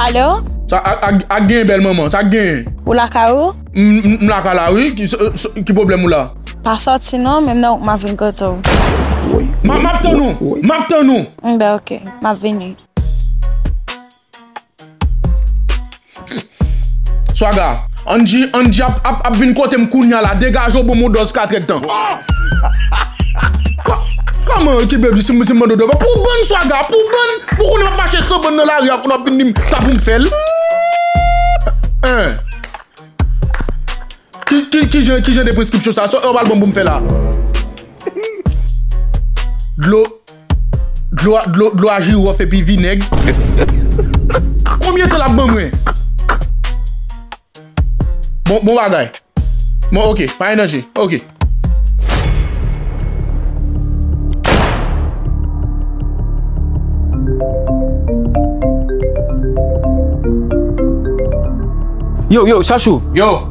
Alo? Sa ak gen bèl manman? Sa ak gen? Ou lakay ou? M lakay la wi, ki pwoblèm ou la? Pa sòti non, menm nan ou k m ap vin kote ou. M ap tann ou, m ap tann ou. Bon, ok, m ap vini. Swaga, Angy Angy ap ap ap vin kotem kounya la degaje w bon mou dòz katrèd tan. Kòman e ki bgy si m si m mande w dòz pou bann swaga pou bann pou konnen map mache san bann nan lari a konnen wap vin di m sa pou m fè l Ki ki jan ki jan de preskripsyon sa sa w pral ban m pou m fè la Dlo Dlo a jirof epi vinèg. Konbyen tan lap ban mwen? Bon bagay. Bon ok, pa gen danje. Ok. Yo, yo, chachou. Yo.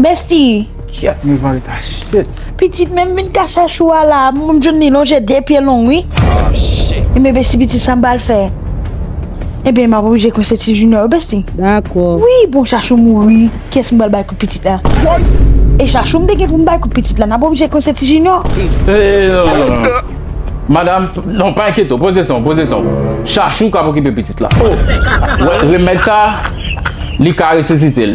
Bestie. Kyèt m van lta shit. Pitit menm vin ka chachou a la m jwenn li lonje 2 pye long wi. Oh shit. Ebyen Bestie pitit sam pral fè. Ebyen map oblije kwense ti Junior wi Bestie. Dakò. Wi bon chachou mouri kiyès m pral bay kout pitit la. Woy. E chachou m te gen pou m bay kout pitit la nap oblije kwense ti Junior. Eeeee Madam non pa enkyete w poze san w poze san w chachou kap okipe pitit la oh wè remèd sa li ka resisite l.